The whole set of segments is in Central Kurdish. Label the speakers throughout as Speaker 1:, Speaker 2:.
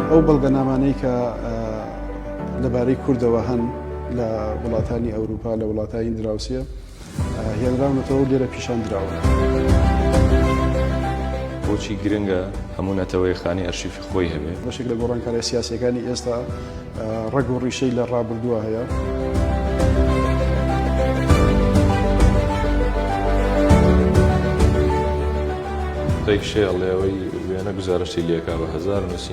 Speaker 1: ئەو بەڵگەنامانەی کە لەبارەی کوردەوە هەن لە وڵاتانی ئەوروپا لە وڵاتانی دراوسێ، هێنراونەتەوەو لێرە پیشان دراون.
Speaker 2: بۆچی گرنگە هەموو نەتەوەیەک خانەی ئەرشیفی خۆی هەبێت؟ بەشێک لە گۆڕانکاریە
Speaker 1: سیاسیەکانی ئێستا ڕەگ و ڕیشەی لە ڕابردووە هەیە. ڕێک
Speaker 2: شێڵێەوەی وێنە گوزارشتی لێکا بە هەزار نووسی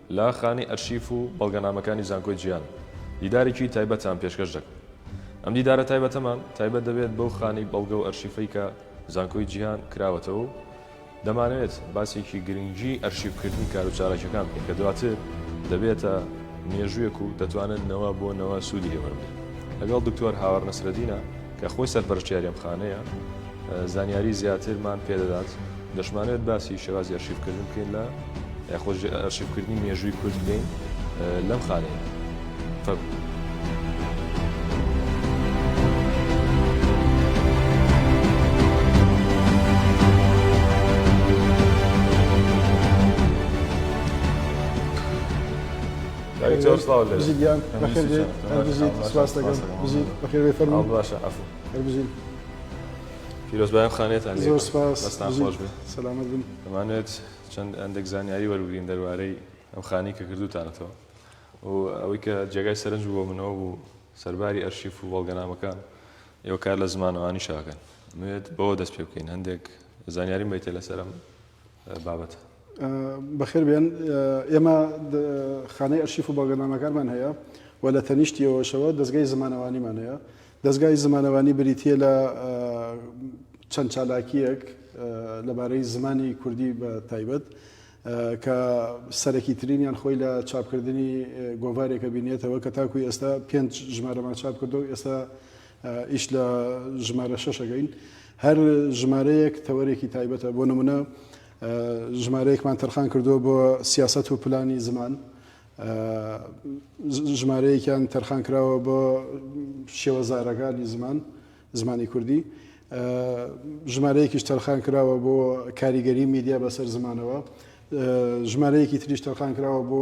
Speaker 2: لە خانەی ئەرشیف و بەڵگەنامەکانی زانکۆی جیهان دیدارێکی تایبەتتان پێشکەش دەکەم. ئەم دیدارە تایبەتەمان تایبەت دەبێت بەو خانەی بەڵگە و ئەرشیفەی کە زانکۆی جیهان کراوەتەوە و دەمانەوێت باسێکی گرنگی ئەرشیفکردنی کار و چالاکیەکان بکەین کە دواتر دەبێتە مێژووێک و دەتوانن نەوە بۆ نەوە سوودی لێ وەربگرن. لەگەڵ دکتۆر هاوار نەسرەدینە. کە خۆی سەرپەرشتیاری ئەم خانەیە زانیاری زیاترمان پێدەدات. دەشمانەوێت باسی شێوازی ئەرشیفکردن بکەین لە یاخۆج ئەرشیفکردنی مێژووی کورد بکەین لەم خانەیە. پیرۆزبایان خانێتان دەمانێت
Speaker 1: چەند
Speaker 2: ئەندێک زانیاری وەرگین دەروارەی ئەم خانی کە کردوتانەتەوە و ئەوەی کە جێگای سەرنج بووە منەوە بوو سەرباری ئەرشیف و بەڵگەنامەکان ئێوە کار لە زمانەوانی شاکەن نوێت بەوە دەست پێ بکەین هەندێک زانیاری میتە لەسەرم بابەتە.
Speaker 1: بەخێر بێن. ئێمە خانەی ئەرشیف و بەڵگەنامەکانمان هەیە و لە تەنیشتیەوەشەوە دەزگای زمانەوانیمان هەیە. دەزگای زمانەوانی بریتییە لە چەند چالاکییەک لەبارەی زمانی کوردی بە تایبەت کە سەرەکیترینیان خۆی لە چاپکردنی گۆڤارێکە بینێتەوە کە تاکوی ئێستا پێنج ژمارەمان چاپ کردو ئێستا ئیش لە ژمارە شەش ئەگەین هەر ژمارەیەک تەوەرێکی تایبەتە بۆ نمونە ژمارەیەکمان تەرخان کردووە بۆ سیاست و پلانی زمان ژمارەیەکیان تەرخان کراوە بۆ شێوەزارەکانی زمان زمانی کوردی ژمارەیەکیش تەرخان کراوە بۆ کاریگەری میدیا بەسەر زمانەوە ژمارەیەکی تریش تەرخان کراوە بۆ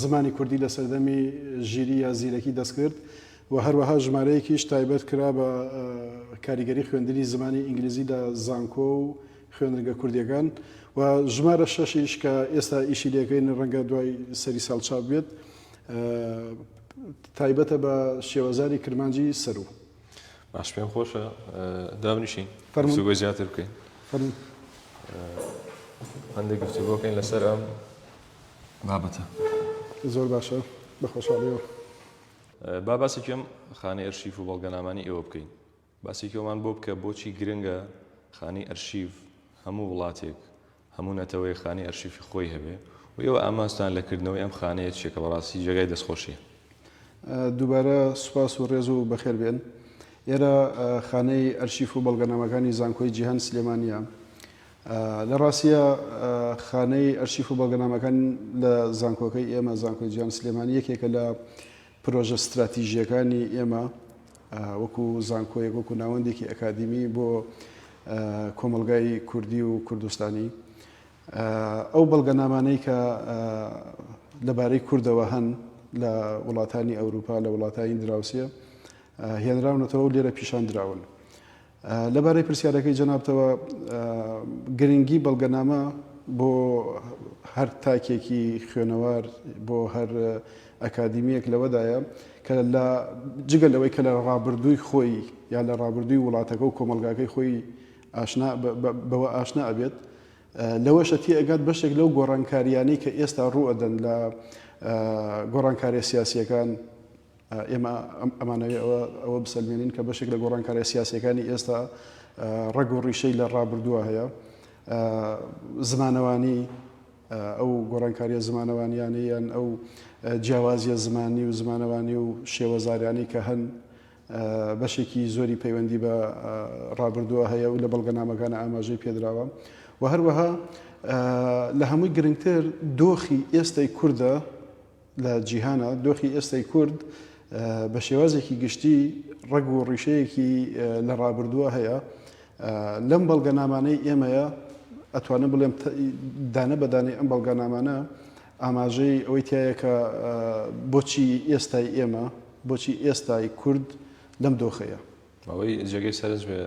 Speaker 1: زمانی کوردی لە سەردەمی ژیری یا زیرەکی دەستکرد و هەروەها ژمارەیەکیش تایبەت کرا بە کاریگەری خوێندنی زمانی ئینگلیزی لە زانکۆ و خوێندنگە کوردییەکان و ژمارە شەشیش کە ئێستا ئیشی لێکەین ڕەنگە دوای سەری ساڵ چاپ بێت تایبەتە بە شێوەزاری کرمانجی سەروو باش پێم
Speaker 2: خۆشە دابنیشین فەرموگە زیاتر بکەین فەرمو هەندێک گفتوگۆکەین لەسەر ئەم بابەتە
Speaker 1: زۆر باشە بەخۆشحاڵیەوە
Speaker 2: با باسێکی ئەم خانەی ئەرشیف و بەڵگەنامانەی ئێوە بکەین. باسێکی ئەومان بۆ بکە بۆچی گرنگە خانەی ئەرشیف هەموو وڵاتێک، هەموو نەتەوەیەک خانەی ئەرشیفی خۆی هەبێ و ئێوە ئامانجتان لە کردنەوەی ئەم خانەیە چییە کە بەڕاستی جێگای دەستخۆشییە؟
Speaker 1: دووبارە سوپاس و ڕێز و بەخێر بێن. ئێرە خانەی ئەرشیف و بەڵگەنامەکانی زانکۆی جیهان سلێمانییە. لە ڕاستییا خانەی ئەرشیف و بەڵگەنامەکان لە زانکۆکەی ئێمە، زانکۆی جیهان سلێمانی یەکێکە لە پرۆژە ستراتیژییەکانی ئێمە وەکو زانکۆیەک وەکو ناوەندێکی ئەکادیمی بۆ کۆمەڵگای کوردی و کوردستانی ئەو بەڵگەنامانەی کە لەبارەی کوردەوە هەن لە وڵاتانی ئەوروپا لە وڵاتانی دراوسە هێنراونەتەوە لێرە پیشان دراون لەبارەی پرسیارەکەی جەنابتەوە، گرنگی بەڵگەنامە بۆ هەر تاکێکی خوێنەوار، بۆ هەر ئەکادیمییەک لەوەدایە کە لە جگە لەوەی کە لە ڕابردووی خۆی یا لە ڕابردووی وڵاتەکە و کۆمەڵگاکەی خۆی ئاشنا بەوە ئاشنا ئەبێت، لەوەشە تێئەگات بەشێک لەو گۆڕانکارییانەی کە ئێستا ڕووئەدەن لە گۆڕانکارییە سیاسییەکان، ئێمە ئەمانەوێ ئەوە بسەلمێنین کە بەشێک لە گۆڕانکارە سیاسەکانی ئێستا ڕەگ و ڕیشەی لە ڕابردووە هەیە زمانەوانی ئەو گۆڕانکاریە زمانەوانیانیان ئەو جیاوازیە زمانی و زمانەوانی و شێوەزاریانی کە هەن بەشێکی زۆری پەیوەندی بە ڕابردووە هەیە و لە بەڵگەنامەکان ئاماژەی پێدراوە و هەروەها لە هەمووی گرنگتر دۆخی ئێستای کووردە لە جیهانا دۆخی ئێستای کورد بە شێوازێکی گشتی ڕەگ و ڕیشەیەکی لە ڕابردووە هەیە لەم بەڵگەنامانەی ئێمەیە ئەتوانم بڵێم دانە بەدانەی ئەم بەڵگەنامانە ئاماژەی ئەوەی تایەکە بۆچی ئێستای ئێمە بۆچی ئێستای کورد لەم دۆخەیە ئەوەی جێگەی
Speaker 2: سەرنج بێ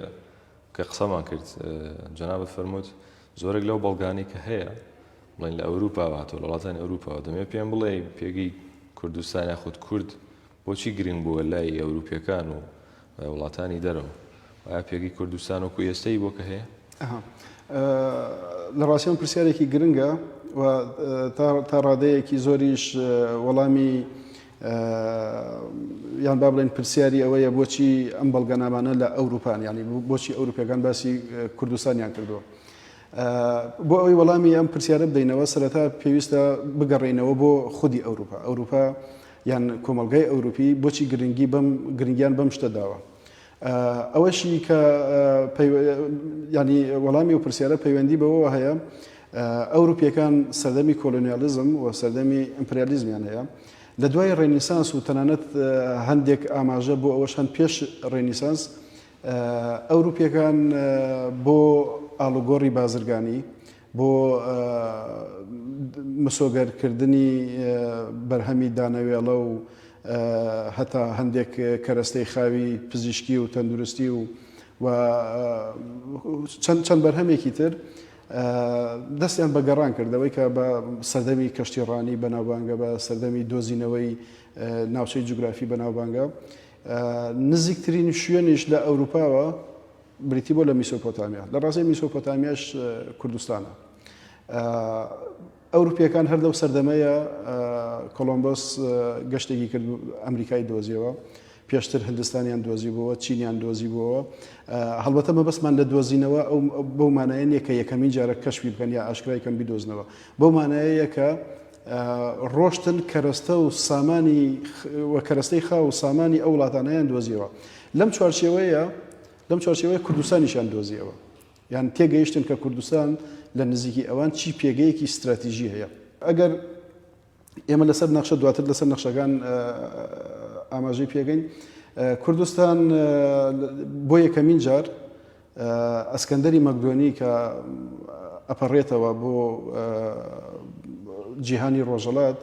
Speaker 2: کە قسەمان کرد جەنابەت فەرمووت زۆرێک لەو بەڵگانی کە هەیە بڵێن لە ئەوروپاوە هاتووە، لە وڵاتانی ئەوروپاوە، دەمەوێت پێم بڵێی پێگەی کوردستان یاخود کورد بۆچی گرنگ بووە لای ئەوروپییەکان و وڵاتانی دەرەوە؟ ئایا پێگەی کوردستان وەکو ئێستەی بۆ کە هەیە؟ لە
Speaker 1: ڕاستیان پرسیارێکی گرنگە و تا ڕادەیەکی زۆریش وەڵامی یان با بڵێن پرسیاری ئەوەیە بۆچی ئەم بەڵگەنامانە لە ئەوروپان ینی بۆچی ئەوروپەکان باسی کوردستانیان کردووە. بۆ ئەوەی وەڵامی ئەم پرسیارە بدەینەوە سەرەتا پێویستە بگەڕێینەوە بۆ خودی ئەوروپا ئەوروپا یان کۆمەلگای ئەوروپی بۆچی گرنگی بەم گرنگیان بەم شتە داوە ئەوەشی کە ینی وەڵامی و پرسیارە پەیوەندی بەوە هەیە ئەوروپیەکان سەردەمی کۆلۆنیالیزم و سەردەمی ئیمپریالیزمیان هەیە لە دوای ڕێنیسانس و تەنانەت هەندێک ئاماژە بۆ ئەوەش هەند پێش ڕێنیسانس ئەوروپییەکان بۆ ئاڵوگۆڕی بازرگانی، بۆ مسۆگەرکردنی بەرهەمی دانەوێڵە و هەتا هەندێک کەرەستەی خاوی پزیشکی و تەندروستی و و چەند چەند بەرهەمێکی تر دەستیان بە گەڕان کردەوەی کە بە سەردەمی کەشتی ڕانی بەناوبانگە بە سەردەمی دۆزینەوەی ناوچەی جوگرافی بەناوبانگە نزیکترین شوێنیش لە ئەوروپاوە بریتی بووە لە میسۆپۆتامیا، لە ڕاستیدا میسۆپۆتامیاش کوردستانە. ئەوروپییەکان هەر لەو سەردەمەیە کۆلۆمبۆس گەشتێکی کرد ئەمریکای دۆزیەوە، پێشتر هندستانیان دۆزی بووە، چینیان دۆزی بووەوە. هەڵبەتە مەبەستمان لە دۆزینەوە ئەو بەو مانایە نییە کە یەکەمین جارە کەشفی بکەن یا ئاشکرای کەم بدۆزنەوە، بەو مانایەیە کە ڕۆشتن کەرەستە و سامانی و کەرەستەی خاو و سامانی ئەو وڵاتانەیان دۆزیەوە لەم چوارچێوەیە لەم چوارچێوەیە کوردستانیشان دۆزیەوە یان تێگەیشتن کە کوردستان لە نزیکی ئەوان چی پێگەیەکی استراتیژی هەیە ئەگەر ئێمە لەسەر نەخشە دواتر لەسەر نەخشەکان ئاماژەی پێگەین کوردستان بۆ یەکەمین جار ئەسکەندەری مەکدۆنی کە ئەپەڕێتەوە بۆ جیهانی ڕۆژەڵات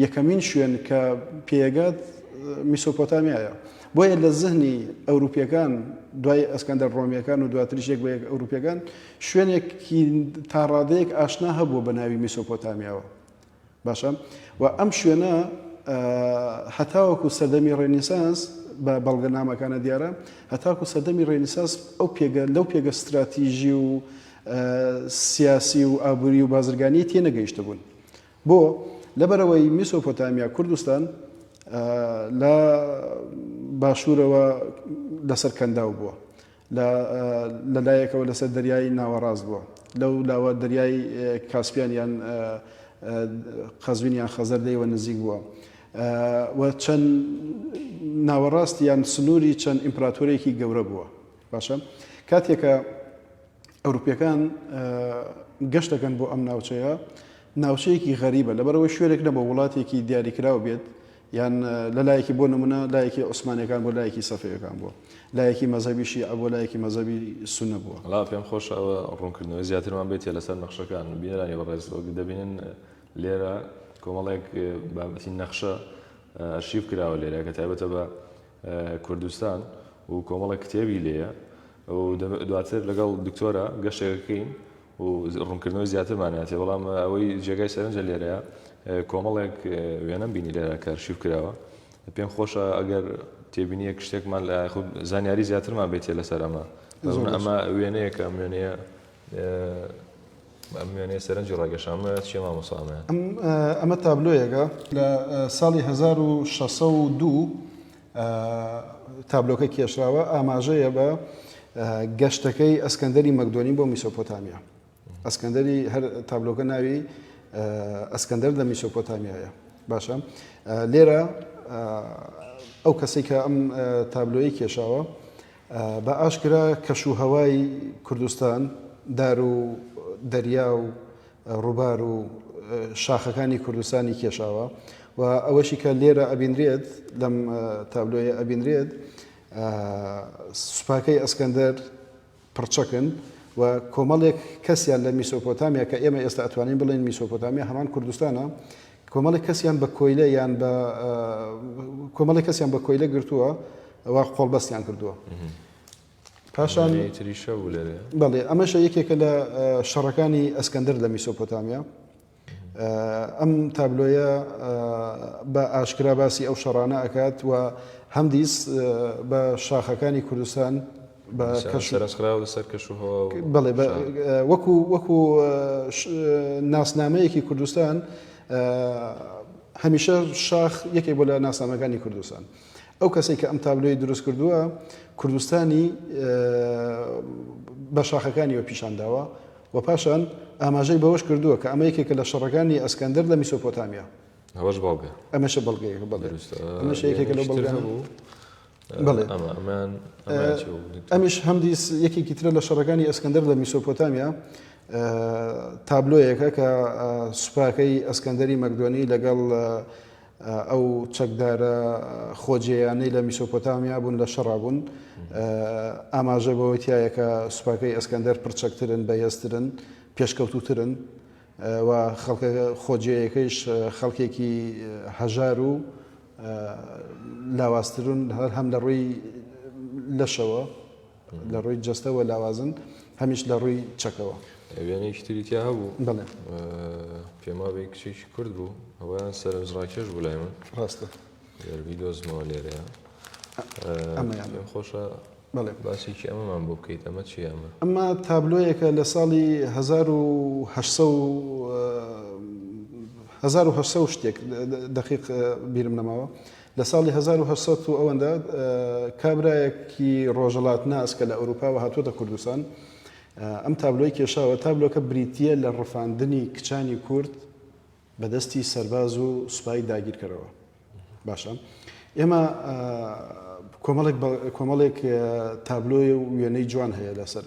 Speaker 1: یەکەمین شوێن کە پێگات میسۆپۆتامیایە بۆیە لە زهنی ئەوروپیەکان دوای ئەسکەندەر ڕۆمیەکان و دواتریش یەک بە یەک ئەوروپیەکان شوێنێکی تاڕادەیەک ئاشنا هەبوو بە ناوی میسۆپۆتامیاوە باشە و ئەم شوێنە هەتاوەکو سەردەمی ڕێنیسانس بە بەڵگەنامەکانە دیارە هەتاکو سەردەمی ڕێنیساس ئەو پێگە لەو پێگە ستراتیژی و سیاسی و ئابووری و بازرگانی تێ نەگەیشتە بوون بۆ لەبەرەوەی میسۆپۆتامیا کوردستان لە باشوورەوە لەسەر کەنداو بووە لە لە لایەکەوە لەسەر دەریای ناوەڕاست بووە، لەو لاوە دەریای کاسپیان یان قەزوین یان خەزەر لێیوە نزیک بووە و چەند ناوەڕاستی یان سنووری چەند ئیمپراتۆرێکی گەورە بووە. باشە کاتێکە ئەوروپیەکان گەشتەکەن بۆ ئەم ناوچەیە ناوچەیەکی غەریبە لەبەرەوەی شوێنێک نەبوو وڵاتێکی دیاریکراو بێت یان لە لایەکی بۆ نمونە لایەکی عوسمانیەکان بۆ لایەکی سەفەویەکان بووە لایەکی مەزەبی شیعە بۆ لایەکی مەزەبی سونە بووە. وەڵا پێم خۆشە ئەوە
Speaker 2: ڕوونکردنەوەی زیاترمان بێتیە لەسەر نەخشەکان بینەرانی بەڕێز وەک دەبینن لێرە کۆمەڵێک بابەتی نەخشە ئەرشیف کراوە لێرە کە تایبەتە بە کوردستان و کۆمەڵێک کتێبی لێیە و دواتر لەگەڵ دکتۆرە گەشتێکەکەین و ڕوونکردنەوەی زیاترمان هاتێ بەڵام ئەوەی جێگای سەرنجە لێرەیا کۆمەڵێک وێنەم بینی لێرە کە ئەرشیف کراوە پێم خۆشە ئەگەر تێبینیەک شتێکمان لە خود زانیاری زیاترمان بێتێ لەسەر ئەمە ئەمە وێنەیەکە ئەم وێنەیە ئەمێنێ سەرنجی ڕاگەشامە چێ مامۆسامە ئەمە
Speaker 1: تابلۆیەکە لە ساڵی 1602 تابلۆکە کێشراوە ئاماژەیە بە گەشتەکەی ئەسکەندەری مەکدۆنی بۆ میسۆپۆتامیا ئەسکەندەری هەر تابلۆکە ناوی ئەسکەندەر لە میسۆپۆتامیایە باشە لێرە ئەو کەسی کە ئەم تابلۆی کێشاوە بە ئاشکرا کەش و هەوای کوردستان، دار و دەریا و ڕووبار و شاخەکانی کوردستانی کێشاوە و ئەوەشی کە لێرە ئەبینرێت، لەم تابلۆیە ئەبینرێت، سوپاکەی ئەسکەندەر پڕچەکن و کۆمەڵێک کەسیان لە میسۆپۆتامیا، کە ئێمە ئێستا ئەتوانین بڵێین میسۆپۆتامیا هەمان کوردستانە، کۆمەڵێک کەسیان بە کۆیلە یان بە کۆمەڵی کەسیان بە کۆیلە گرتووە ئەوە قۆڵبەستیان کردووە پاشان تریشە بوو
Speaker 2: لەێ بەڵێ ئەمەشە یەکێکە
Speaker 1: لە شەڕەکانی ئەسکەندەر لە میسۆپۆتامیا ئەم تابلۆیە بە ئاشکرا باسی ئەو شەڕانە ئەکات و هەمدیس بە شاخەکانی کوردستان بە کەش و سەرنجخراو لەسەر
Speaker 2: کەش و هەوا و بەڵێ بە شار.
Speaker 1: وەکو وەکو ش- ناسنامەیەکی کوردستان ئە، هەمیشە شاخ یەکێک بووە لە ناسنامەکانی کوردستان ئەو کەسەی کە ئەم تابلۆی دروست کردووە کوردستانی ئە، بە شاخەکانیەوە پیشان داوە و پاشان ئاماژەی بەوەش کردووە کە ئەمە یەکێکە لە شەڕەکانی ئەسکەندەر لە میسۆپۆتامیا ئەوەش بەڵگە
Speaker 2: ئەمەشە بەڵگەیەکە بەڵێ
Speaker 1: دروستە ئەمەش یەکێکە لەو یەکێکی تر بەڵگانە. هەبوو بڵێ ئەمیش هەمدی یەکێکی ترە لە شەڕەکانی ئەسکەندەر لە میسۆپۆتامیا تابلۆیەکە کە سوپاکەی ئەسکەندەری مەکدۆنی لەگەڵ ئەو چەکدارە خۆجێیانەی لە میسۆپۆتامیا بوون لە شەڕا بوون ئاماژە بەوەتیایەکە سوپاکەی ئەسکەندەر پرچەکترن بە هێزترن پێشکەوتوترن و خەڵکە خۆجێیەکەیش خەڵکێکی هەژار و لاوازترون هەم لە ڕووی لەشەوە لە ڕووی جەستەوە لاوازن هەمیش لە ڕووی چەکەوە وێنەیەکی تری
Speaker 2: تیا هەبوو بڵێ پێماوەی کچێکی کورد بوو ئەویان سەرنجڕاکێش بوو لای من ڕاستە
Speaker 1: گەر بیدۆزمەوە
Speaker 2: لێرەیە ئەمەیان پێم خۆشە بەڵێ باسێکی
Speaker 1: ئەمەمان بۆ
Speaker 2: بکەیت ئەمە چی ئەمە ئەمە تابلۆیەکە
Speaker 1: لە ساڵی 1970 شتێک دقیق بیرم نەماوە لە ساڵی 1970 و ئەوەندە کابراایەکی ڕۆژەڵات ناس کە لە ئەوروپاوە هاتووەتە کوردستان ئەم تابلۆی کێشاوە تابلۆکە بریتە لە ڕفاندنی کچانی کورد بە دەستی سەرباز و سوپای داگیرکەرەوە. باشە ئێمە کۆمەڵێک کۆمەڵێک تابلۆی و وێنەی جوان هەیە لەسەر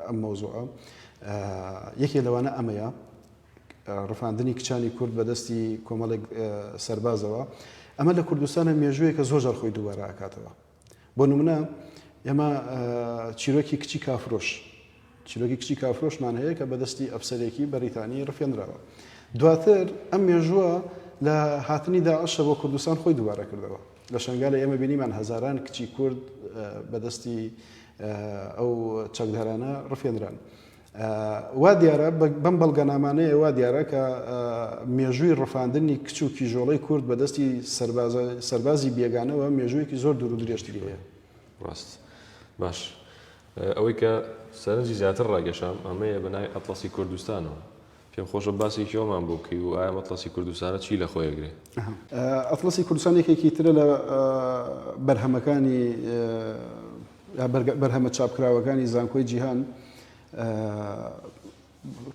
Speaker 1: ئەم مەوزوعە یەکێ لەوانە ئەمەیە ڕفاندنی کچانی کورد بە دەستی کۆمەڵێک سەربازەوە ئەمە لە کوردستانە مێژوویە کە زۆر جار خۆی دووبارە ئاکاتەوە بۆ نمونە ئێمە چیرۆکی کچی کافرۆش چیرۆکی کچی کافرۆشمان هەیە کە بەدەستی ئەفسەرێکی بەریتانی ڕفێنراوە دواتر ئەم مێژووە لە هاتنی داعشە بۆ کوردستان خۆی دووارە کردەوە لە شنگالە ئێمە بینیمان هەزاران کچی کورد بەدەستی ئەو چەکدارانە ڕفێنران. وا دیارە بەم بەڵگەنامانەیە وا دیارە کە مێژووی ڕفاندنی کچ و کیژۆڵەی کورد بە دەستی سەربازی بێگانەوە مێژوویەکی زۆر دوور و درێژتری هەیە ڕاست
Speaker 2: باش ئەوەی کە سەرنجی زیاتر ڕاگەشام ئەمەیە بەنای ئەتڵەسی کوردستانەوە پێم خۆشە باسێکی ئەومان بۆ بکەی و ئایا ئەم ئەتڵەسی کوردستانە چی لە خۆی ئەگرێ؟ ئەتڵەسی
Speaker 1: کوردستان یەکێکی ترە لە بەرهەمەکانی بەرهەمە چاپکراوەکانی زانکۆی جیهان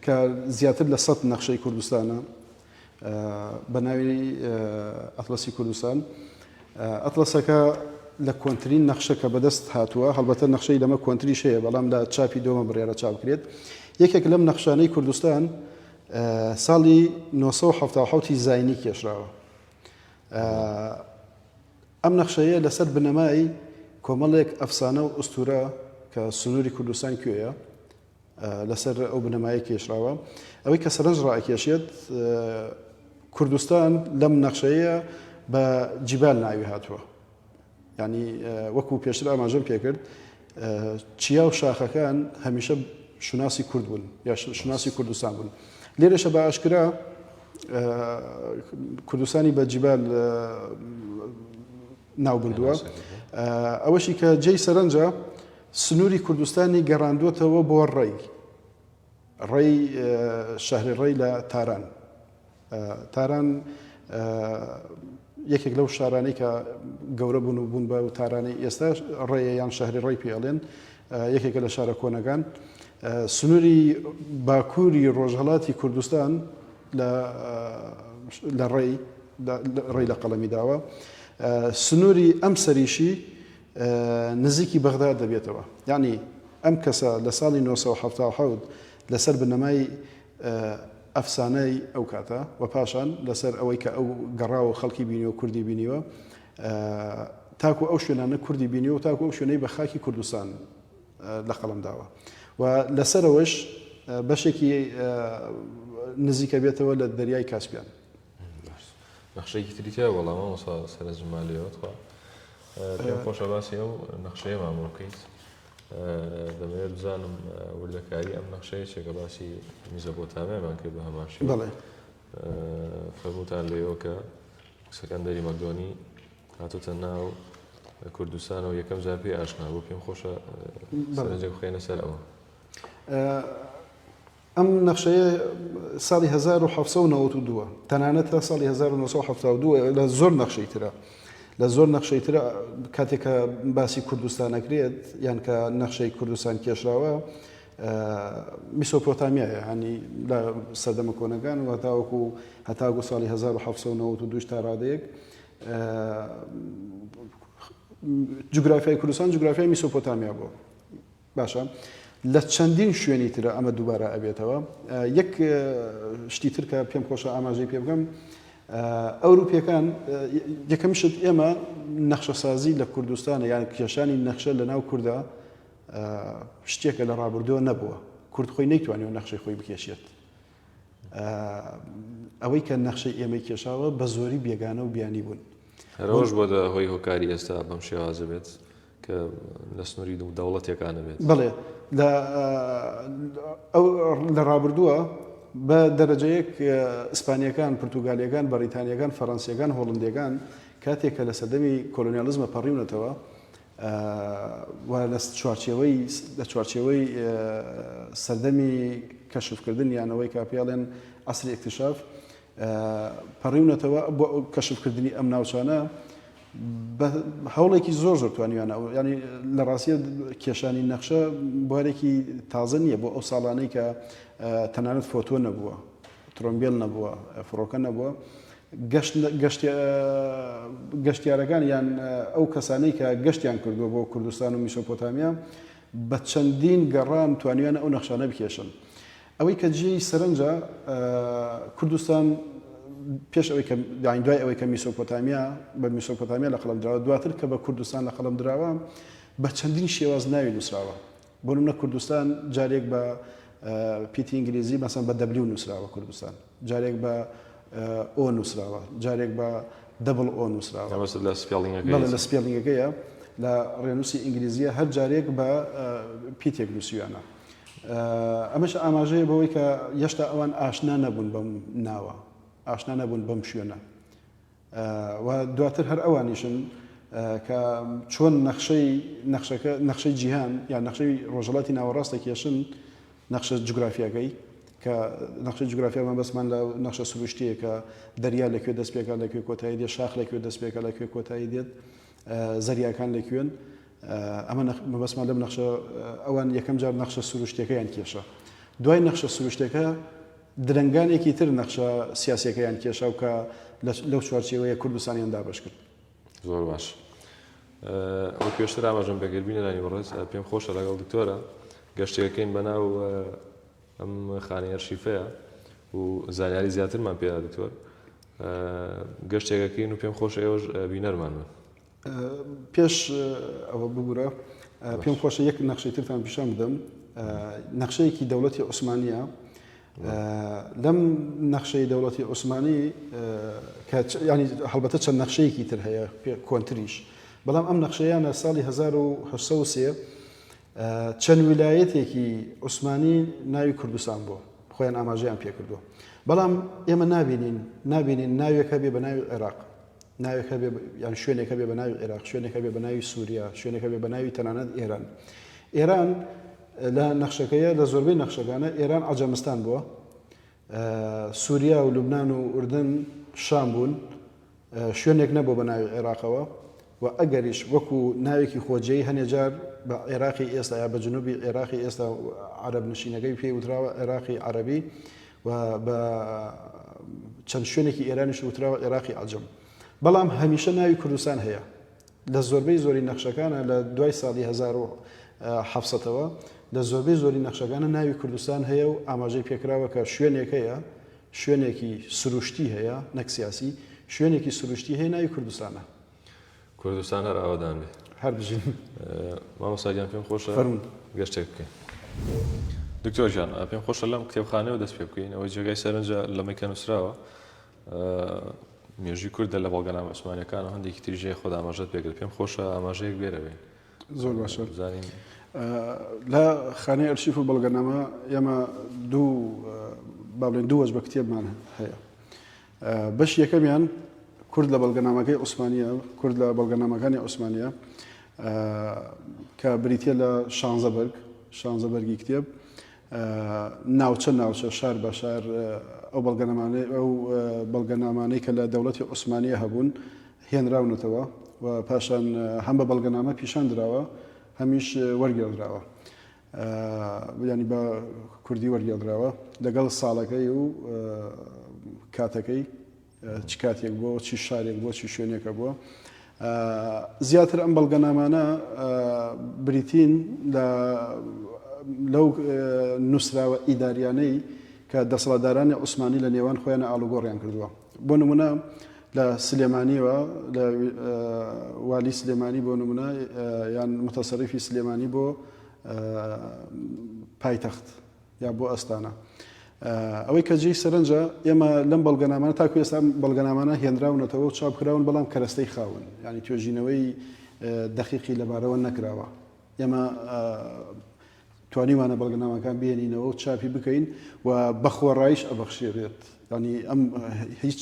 Speaker 1: کە زیاتر لە سەد نەخشەی کوردستانە بە ناوی ئەتڵەسی کوردستان ئەتڵەسەکە لە کۆنترین نەخشە کە بەدەست هاتووە، هەڵبەتە نەخشەی لەمە کۆنتریش هەیە، بەڵام لە چاپی دووەمە بڕیارە چاپ کرێت. یەکێک لەم نەخشانەی کوردستان ساڵی نۆ سەد و حەفتا و حەوت ی زاینی کێشراوە. ئەم نەخشەیە لەسەر بنەمای کۆمەڵێک ئەفسانە و ئوستوورە کە سنووری کوردستان کوێیە، لەسەر ئەو بنەمایە کێشراوە. ئەوەی کە سەرنج ڕائەکێشێت کوردستان لەم نەخشەیە بە جیبال ناوی هاتووە. ینی وەکو پێشتر ئاماژەم پێکرد چیا و شاخەکان هەمیشە شوناسی کورد بوون یا شوناسی کوردستان بوون. لێرەشە بە ئاشکرا کوردستانی بە جیبال ناوبردووە. ئەوەشی کە جێی سەرنجە، سنووری کوردستانی گەڕاندووەتەوە بۆ ڕەی، ڕەی شەهری ڕەی لە تاران. تاران یەکێک لەو شارانەی کە گەورە بوون و بوون بە و تارانی ئێستا ڕێیە یان شەهری ڕێی پێ ئەڵێن یەکێکە لە شارە کۆنەکان سنووری باکووری ڕۆژهڵاتی کوردستان لە لە ڕێی ڕێی لە قەڵەمی داوە سنووری ئەم سەریشی نزیکی بەغدا دەبێتەوە یعنی ئەم کەسە لە ساڵی 1970 لەسەر بنەمای ئەفسانەی ئەو کاتە و پاشان لەسەر ئەوەی کە ئەو گەڕاوە خەڵکی بینی و کوردی بینیوە تاکو ئەو شوێنانە کوردی بینی و تاکو ئەو شوێنەی بە خاکی کوردستان لەقەڵەم داوە و لەسەرەوەش بەشێکی نزیکە بێتەوە لە دەریای کاسپیان
Speaker 2: نەخشەیەکی تری تیا وەڵامە وەسا سەرە زمالەوەخوا پێم خۆشە باسی ئەو نەخشەیەمان بۆ بکەیت دەمەوێت بزانم وردەکاری ئەم نەخشەیە چێکە باسی میزە بۆ تامێمان کرد بە هەماشی بڵێ فەرموتان لێەوە کە سەکەندەری مەدۆنی هاتۆتە ناو کوردستانەوە یەکەم جار پێی ئاشنا بوو پێم خۆشە سەرنجە بخەێنە سەر ئەوە
Speaker 1: ئەم نەخشەیە ساڵی 1992 تەنانەت تا ساڵی 1972 لە زۆر نەخشەی ترە لە زۆر نەخشەی ترە کاتێکە باسی کوردستانەکرێت یان کە نەخشەی کوردستان کێشراوە میسۆپۆتامیە ینی لە سەردەمە کۆنەکان و هەتاوەکو هەتاگو ساڵی 1992 تا ڕادەیەک جوگرافیای کوردستان جوگرافیای میسۆپۆتامیا بووە باشە لە چەندین شوێنی ترە ئەمە دووبارە ئەبێتەوە یەک شتی تر کە پێم خۆشە ئاماژەی پێ بگەم ئەوروپیەکان یەکەم شت ئێمە نەخشەسازی لە کوردستانە یان کێشانی نەخشە لە ناو کووردا شتێکە لە ڕابردووە نەبووە کورد خۆی نەیتوانانی و نەخشەی خۆی بکێشێت ئەوەی کە نەخشەی ئێمەی کێشاوە بە زۆری بێگانە و بیانی بوون هەرۆژ بۆ
Speaker 2: هۆی هۆکاری ئێستا بەم شێوازە بێت کە لە سنووری دوو دەوڵەتێکانە بێت بڵێ
Speaker 1: لە ڕابردووە بە دەرەجەیەک ئیسپانیەکان پرتوگالیەکان بەریتانیەکان فەرەنسیەکان هۆڵندەکان کاتێک کە لە سەدەمی کۆلۆنیالزمە پەڕیونەتەوە و لە چوارچێوەی لە چوارچێوەی سەردەمی کەشفکردن یان ئەوەی کە پێڵێن عەسری ئیکتشاف پەڕیونەتەوە بۆ کەشفکردنی ئەم ناوچانە هەوڵێکی زۆر زۆر توانیانە ئەو ینی لە ڕاستە کێشانی نەخشە بوارێکی تازە نییە بۆ ئەو ساڵانەی کە تەنانەت فۆتۆ نەبووە ترۆمبیل نەبووە فڕۆکە نەبووە گەشتیارەکان یان ئەو کەسانەی کە گەشتیان کردووە بۆ کوردستان و میسۆپۆتامیا بە چەندین گەڕان توانیویانە ئەو نەخشانە بکێشن. ئەوەی کە جێی سەرنجە کوردستان پێش ئەوەی کە یانی دوای ئەوەی کە میسۆپۆتامیا بە میسۆپۆتامیا لە قەڵەم دراوە دواتر کە بە کوردستان لە قەڵەم دراوە بە چەندین شێواز ناوی نووسراوە بۆ نمونە کوردستان جارێک بە پیتی ئینگلیزی مەسەن بە دەبلیو نووسراوە کوردستان جارێک بە ئۆ نووسراوە جارێک بە دەبڵ ئۆ نووسراوە مەبەستت لە سپێڵینگەکەیە؟ بەڵێ لە سپێڵینگەکەیە لە ڕێنووسی ئینگلیزییە هەر جارێک بە پیتێک نووسیویانە ئەمەش ئاماژەیە بەوەی کە هێشتا ئەوان ئاشنا نەبوون بەم ناوە ئاشنا نەبوون بەم شوێنە و دواتر هەر ئەوانیشن کە چۆن نەخشەی نەخشەکە نەخشەی جیهان یا نەخشەی ڕۆژەڵاتی ناوەڕاست دەکێشن نەخشە جوگرافیاکەی کە نەخشە جوگرافیامان بەسمان لە نەخشە سروشتیە کە دەریا لەکوێ دەست پێکان لەکوێ کۆتایی دێت شاخ لەکوێ دەست پێکە لەکوێ کۆتایی دێت زەریاکان لەکوێن ئەمە مەبەسمان لەم نەخشە ئەوان یەکەم جار نەخشە سروشتەکەیان کێشە دوای نەخشە سروشتەکە درەنگانێکی تر نەخشە سیاسیەکەیان کێشا و کە لەو چوارچێوەیە کوردستانیان دابەش کرد. زۆر باش.
Speaker 2: ئەو پێشتر ئاماژەم بەگەر بینەرانی بەڕێز پێم خۆشە لەگەڵ دکتۆرە گەشتێکەکەین بەناو ئەم خانەی ئەرشیفەیە و زانیاری زیاترمان پێدا دکتۆر گەشتێکەکەین و پێم خۆش ئێوەش بینەرمان بن. پێش
Speaker 1: ئەوە ببورە پێم خۆشە یەک نەخشەی ترتان پیشان بدەم نەخشەیەکی دەوڵەتی عوسمانە لەم نەخشەی دەوڵەتی عوسمانی کە ینی هەڵبەتە چەند نەخشەیەکی تر هەیە پێ کۆنتریش بەڵام ئەم نەخشەیانە ساڵی 1970 چەند ویلایەتێکی عوسمانی ناوی کوردستان بۆ خۆیان ئاماژەیان پێکردووە بەڵام ئێمە نبینین نبینین ناوێکە بێ بە ناوی عێراق ناوێک هەبێ یان شوێنێک هەبێ بە ناوی عێراق شوێنێک هەبێ بە ناوی سووریا شوێنێک هەبێ بە ناوی تەنانەت ئێران ئێران لە نەخشەکەیە لە زۆربەی نەخشەکانە ئێران عجەمستان بووە سووریا و لوبناان و ئوردن شام بوون شوێنێک نەبوو بە ناوی عێراقەوە و ئەگەریش وەکو ناوێکی خۆجێی هەنێجار بە عێراقی ئێستا یا بە جنوبی عێراقی ئێستا عرب نشینەکەی پێی وتراوە عێراقی عربی و بە چەند شوێنێکی ئێرانیش وتراوە عێراقی عەجەم. بەڵام هەمیشە ناوی کوردستان هەیە. لە زۆربەی زۆری نەخشەکانە لە دوای ساڵی هەزار و حەڤ سەتەوە لە زۆربەی زۆری نەخشەکانە ناوی کوردستان هەیە و ئاماژەی پێکراوە کە شوێنێک هەیە، شوێنێکی سروشتی هەیە نەک سیاسی، شوێنێکی سروشتی هەیە ناوی کوردستانە. کوردستان
Speaker 2: هەر ئاوەدان بێ. هەر بژین.
Speaker 1: مامۆستا
Speaker 2: گیان پێم خۆشە. فەرموون. گەشتێک
Speaker 1: بکەین.
Speaker 2: دکتۆر گیان پێم خۆشە لەم کتێبخانەیەوە دەست پێ بکەین، ئەوەی جێگای سەرنجە لەمەی کە نووسراوە مێژووی کوردە لە بەڵگەنامە عوسمانییەکانەوە، هەندێکی تریش هەیە خۆت ئاماژەت پێ کرد، پێم خۆشە ئاماژەیەک بێ لەوێ. زۆر باشە.
Speaker 1: بزانین. لە خانەی ئەرشیف و بەڵگەنامە ئێمە دوو با بڵێین دوو وەجبە کتێبمان هەیە. بەشی یەکەمیان کورد لە بەڵگەنامەکەی عوسمانییە، کورد لە بەڵگەنامەکانی عوسمانییە کە بریتییە لە شانزە بەرگ، شانزە بەرگی کتێب، ناوچە ناوچە، شار بە شار ئەو بەڵگەنامانەی ئەو بەڵگەنامانەی کە لە دەوڵەتی عوسمانییە هەبوون هێنراونەتەوە و پاشان هەم بە بەڵگەنامە پیشان دراوە، هەمیش وەرگێڕدراوە. یانی بە کوردی وەرگێڕدراوە لەگەڵ ساڵەکەی و کاتەکەی چ کاتێک بۆ چی شارێک بۆ چی شوێنێکە بووە زیاتر ئەم بەڵگەنامانە بریتین لە لەو نووسراوە ئیداریانەی کە دەسەڵاتدارانی عوسمانی لە نێوان خۆیان ئالوگۆڕیان کردووە بۆ نمونە لە سلێمانیەوە لە والی سلێمانی بۆ نمونە یان متەسەریفی سلێمانی بۆ پایتەخت یا بۆ ئەستانە. ئەوەی کە جێی سەرنجە ئێمە لەم بەڵگەنامانە تاکو ئێستا بەڵگەنامانە هێنراونەتەوە و چاپکراون بەڵام کەرەستەی خاون ینی توێژینەوەی دەقیقی لەبارەوە نەکراوە ئێمە توانیومانە بەڵگەنامەکان بهێنینەوە و چاپی بکەین و بە خۆڕاییش ئەبەخشێرێت. یانی ئەم هیچ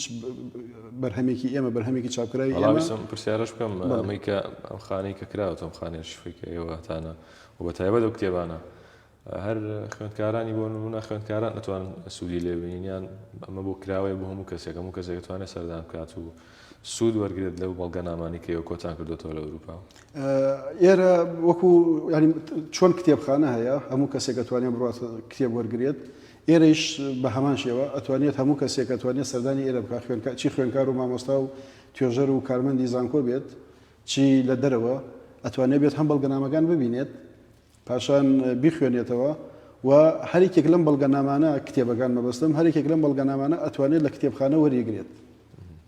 Speaker 1: بەرهەمێکی ئێمە بەرهەمێکی چاپکراوی ئێمە. بەڵام ئیسم پرسیارەش بکەم
Speaker 2: بەڵێ. ئەمەی کە ئەم خانەی کە کراوەتە ئەم خانەیە شفەی کە ئێوە هەتانە و بە تایبەت ئەو کتێبانە هەر خوێندکارانی بۆ نموونە خوێندکاران ئەتوانن سوودی لێ ببینن یان ئەمە بۆ کراوەیە بۆ هەموو کەسێک هەموو کەسێک ئەتوانێ سەردان بکات و سوود وەرگرێت لەو بەڵگەنامانەی کە ئێوە کۆتان کردۆتەوە لە ئەوروپا؟ ئێرە
Speaker 1: وەکو چۆن کتێبخانە هەیە هەموو کەسێک ئەتوانێت بڕات کتێب وەرگێت ئێرەیش بە هەمان شێوە ئەتوانێت هەموو کەسێک ئەتوانێت سەردانی ئێرە بکە خوێنکە چی خوێنکار و مامۆستا و توێژەر و کارمەندی زانکۆ بێت چی لە دەرەوە ئەتوانێت بێت هەم بەڵگەنامەکان ببینێت پاشان بیخوێنێتەوە و هەریکێک لەم بەڵگەنامانە کتێبەکان مەبەستم هەریکێک لەم بەڵگەنامانە ئەتوانێت لە کتێبخانە وەریگرێت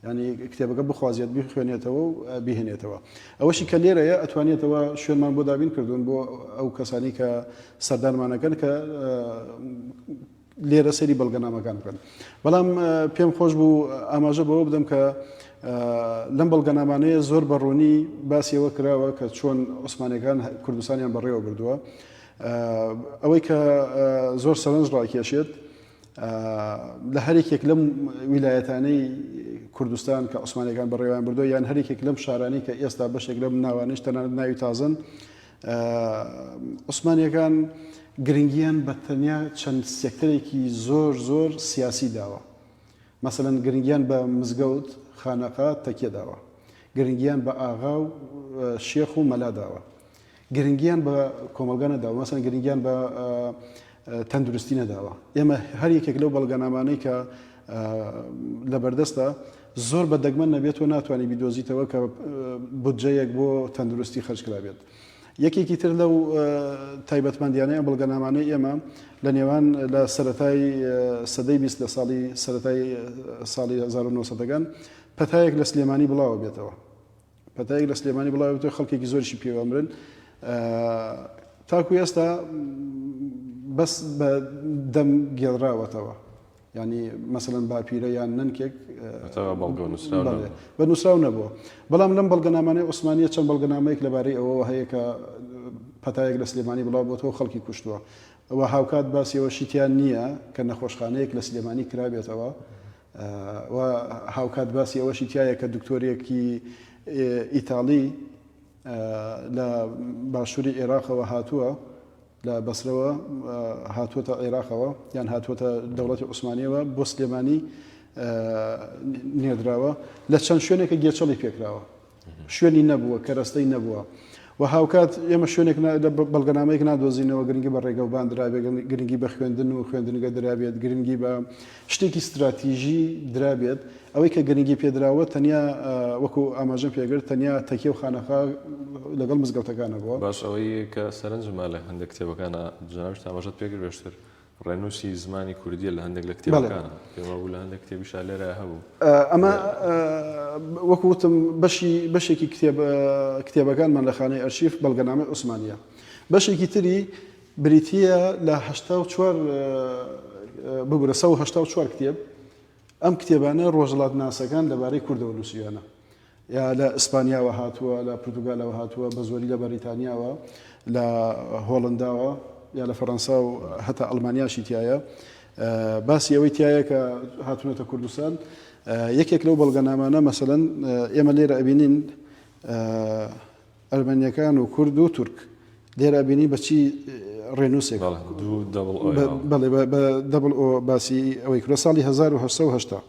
Speaker 1: ینی کتێبەکە بخوازیێت بخوێنێتەوە و بهێنێتەوە ئەوەشی کە لێرەیە ئەتوانێتەوە شوێنمان بۆ دابین کردوون بۆ ئەو کەسانی کە سەردانمانەکەن کە لێرە سەیری بەڵگەنامەکان بکەن. بەڵام پێم خۆش بوو ئاماژە بەوە بدەم کە لەم بەڵگەنامانەیە زۆر بە ڕوونی باسیەوە کراوە کە چۆن عوسمانەکان کوردستانیان بەڕێوە بردووە ئەوەی کە زۆر سەرنج ڕاکێشێت لە هەرێکێک لەم ویلایەتانەی کوردستان کە عوسمانەکان بەڕێوان بردو یان هەرێکێک لەم شارانی کە ئێستا بەشێک لەم ناوانش تەنانەت ناوی تازن عوسمانیەکان گرنگیان بە تەنیا چەند سێکتەرێکی زۆر زۆر سیاسی داوە، مەسەلەن گرنگیان بە مزگەوت، خانەقا، تەکیە داوە، گرنگیان بە ئاغا و شێخ و مەلا داوە، گرنگیان بە کۆمەڵگا نەداوە، مەسەلەن گرنگیان بە تەندروستی نەداوە، ئێمە هەر یەکێک لەو بەڵگەنامانەی کە لەبەردەستە، زۆر بە دەگمەن نەبێت تۆ ناتوانی بیدۆزیتەوە کە بودجەیەک بۆ تەندروستی خەرج کرابێت. یەکێکی تر لەو تایبەتمەندیانەی ئەم بەڵگەنامانەی ئێمە لە نێوان لە سەتای سەدەی بیست لە ساڵی سەتای ساڵی 1970گان پەتایەک لە سلێمانی بڵاوە بێتەوە. پەتایەک لە سلێمانی بڵاوێتەوە خەڵکێکی زۆریشی پێوە مرن تاکو ئێستا بەس بە دەم گێڵراوەتەوە ینی مەسەن باپیرە یان نەنکێک بە نووسراو نەبووە بەڵام لەم بەڵگەنامانەی عوسمانە چەند بەڵگەنامەیەک لەبارەی ئەوەوە هەیە کە پەتایەک لە سلێمانی بڵاو بۆتەوە خەڵکی کوشتووە ئەوە هاوکات باسیەوە شیتیان نییە کە نەخۆشخانەیەک لە سلێمانی کرابێتەوە و هاوکات باسی ئەوەشی تیایە کە دکتۆرێکی ئیتاڵی لە باشووری عێراقەوە هاتووە لە بەسرەوە هاتووەتە عێراقەوە یان هاتووەتە دەوڵەتی عوسمانیەوە بۆ سلێمانی نێدراوە لە چەند شوێنێکە گێچەڵی پێکراوە شوێنی نەبووە، کەرەستەی نەبووە و هاوکات ئێمە شوێنێک بەڵگەنامەیەک نادۆزینەوە گرنگی بە ڕێگەوبان درابێت، گرنگی بە خوێندن و خوێندنگە درابێت، گرنگی بە شتێکی ستراتیژی درابێت، ئەوەی کە گرنگی پێدراوە تەنیا وەکو ئاماژەم پێگرت تەنیا تەکیە و خانەخا لەگەڵ مزگەوتەکانە بووە. باش ئەوەی کە
Speaker 2: سەرنجمە لە هەندێک کتێبەکانە جناویش تاماژەت پێگرێشتر ڕێنووسی زمانی کوردییە لە هەندێک لە کتێبەکان، پێم وابوو لە هەندێک کتێبیشا لێرە هەبوو. ئەمە
Speaker 1: وەکو وتم بەشی بەشێکی کتێب کتێبەکانمان لە خانەی ئەرشیف بەڵگەنامەی عوسمانییە. بەشێکی تری بریتییە لە هەشتا و چوار ببورە سەد و هەشتا و چوار کتێب ئەم کتێبانە ڕۆژەڵاتناسەکان لەبارەی کوردەوە نووسیویانە یا لە ئیسپانیاوە هاتووە لە پرتوگالەوە هاتووە بە زۆری لە بەریتانیاوە لە هۆڵنداوە یا لە فەەنسا و هەتا ئەلمانیاشی تایە باسی ئەوەی تایە کە هاتونەتە کوردستان یەکێک لەو بەڵگەنامانە مەسەن ئێمە لێرە ئەبینین ئەرمەنیەکان و کورد و تورک. لێرە ئەبینی بە چی ڕێنووسێک بە دەبڵ ئۆ باسی ئەوەی کرۆ ساڵی 1970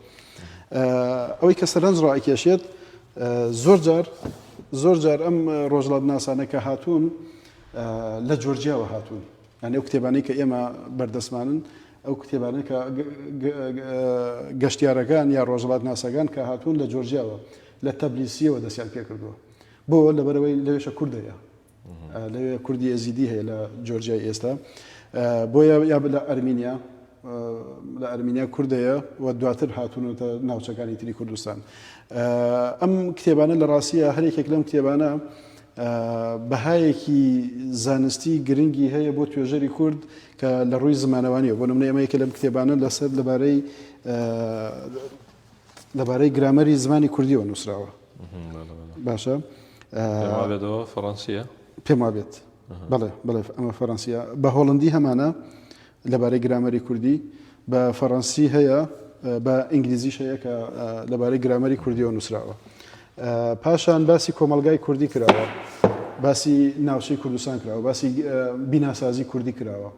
Speaker 1: ئەوەی کە سەرنج ڕائکێشێت زۆر جار زۆر جار ئەم ڕۆژڵات ناسانە کە هاتوون لە جۆرجیاوە هاتوون یعنی ئەو کتێبانەی کە ئێمە بەردەستمانن ئەو کتێبانە کە گەشتیارەکان یا ڕۆژڵات ناسەکان کە هاتوون لە جۆرجیاوە لە تەبلیسیەوە دەستیان پێ کردووە بۆ لەبەرەوەی لەوێشە کورد هەیە لەوێ کوردی ئێزیدی هەیە لە جۆرجای ئێستا بۆیە یا لە ئەرمینیا لە ئەرمینیا کوردەیە و دواتر هاتوونەتە ناوچەکانی تری کوردستان ئەم کتێبانە لە ڕاستیە هەرێکێک لەم کتێبانە بەهایەکی زانستی گرنگی هەیە بۆ توێژەری کورد کە لە ڕووی زمانەوانیە بۆ نمونە ئەمەیەکە لەم کتێبانە لەسەر لەبارەی لەبارەی گرامەری زمانی کوردیەوە نووسراوە باشە
Speaker 2: فەڕەنسیە پێم وابێت
Speaker 1: بڵێ بڵێ ئەمە فەرەنسیە بە هۆڵندی هەمانە لەبارەی گرامەری کوردی بە فەڕەنسی هەیە بە ئینگلیزیش هەیە کە لەبارەی گرامەری کوردیەوە نووسراوە پاشان باسی کۆمەلگای کوردی کراوە باسی ناوچەی کوردستان کراوە باسی بیناسازی کوردی کراوە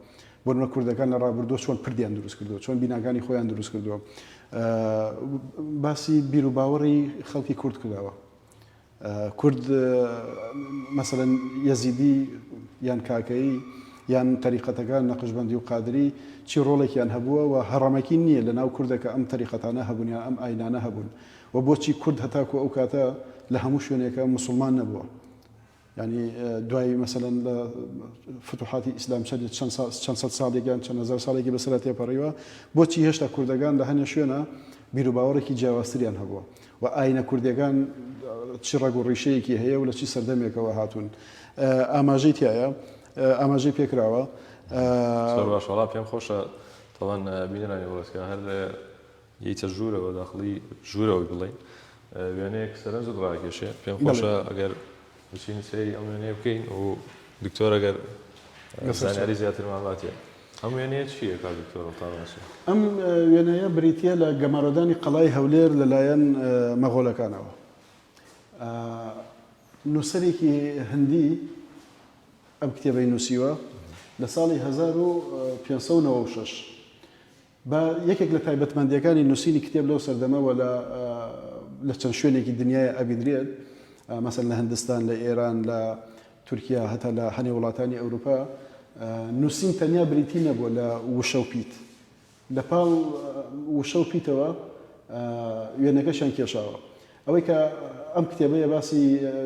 Speaker 1: بۆنمونە کوردەکان لە ڕابردووە چۆن پردیان دروست کردووە، چۆن بیناکانی خۆیان دروست کردووە، باسی بیروباوەڕی خەڵکی کورد کراوە. کورد مەسەلەن یەزیدی یان کاکەیی یان تەریقەتەکان نەقشبەندی و قادری چی ڕۆڵێکیان هەبووە و هەڕەمەکی نییە لەناو کوردە کە ئەم تەریقەتانە هەبوون یان ئەم ئاینانە هەبوون و بۆچی کورد هەتاکو ئەو کاتە لە هەموو شوێنێکە موسڵمان نەبووە. یانی دوای مەسەلەن لە فتوحاتی ئیسلام چەندی چەند سا چەند سەد ساڵێک یان چەند هەزار ساڵێکی بەسەرا تێپەڕیوە، بۆچی هێشتا کوردەگان لە هەنێ شوێنا بیروباوەڕێکی جیاوازتریان هەبووە و ئاینە کوردیەگان چی ڕەگ و ڕیشەیەکی هەیە و لە چی سەردەمێکەوە هاتوون؟ ئاماژەی تیایە ئاماژەی پێکراوە. زۆر
Speaker 2: باش وەڵا پێم خۆشە تاوان بینەرانی وڵەتکە هەر یەیتە ژوورەوە داخڵی ژوورەوە بڵێین وێنەیەک سەرنجت ڕاکێشێ پێم خۆشە ئەگەر بچین سەیری ئەم وێنەیە بکەین و دکتۆر ئەگەر زانیاری زیاترمان باتێ ئەم وێنەیە چییە کا دکتۆر ڕتاوەچی ئەم
Speaker 1: وێنەیە بریتە لە گەمارۆدانی قەڵای هەولێر لەلایەن مەغۆلەکانەوە نووسەرێکی هەندی ئەم کتێبەی نووسیوە لە ساڵی 1596 بە یەکێک لە تایبەتمەندییەکانی نووسینی کتێب لەو سەردەمەوە لە لە چەند شوێنێکی دنیایە ئەبینرێت، مەسەن لە هندستان، لە ئێران، لە تورکیا هەتا لە هەنێ وڵاتانی ئەوروپا نووسین تەنیا بریتی نەبووە لە وشە و پیت، لە پاڵ وشە و پیتەوە وێنەکەشیان کێشاوە. ئەوەی کە ئەم کتێبەیە باسی،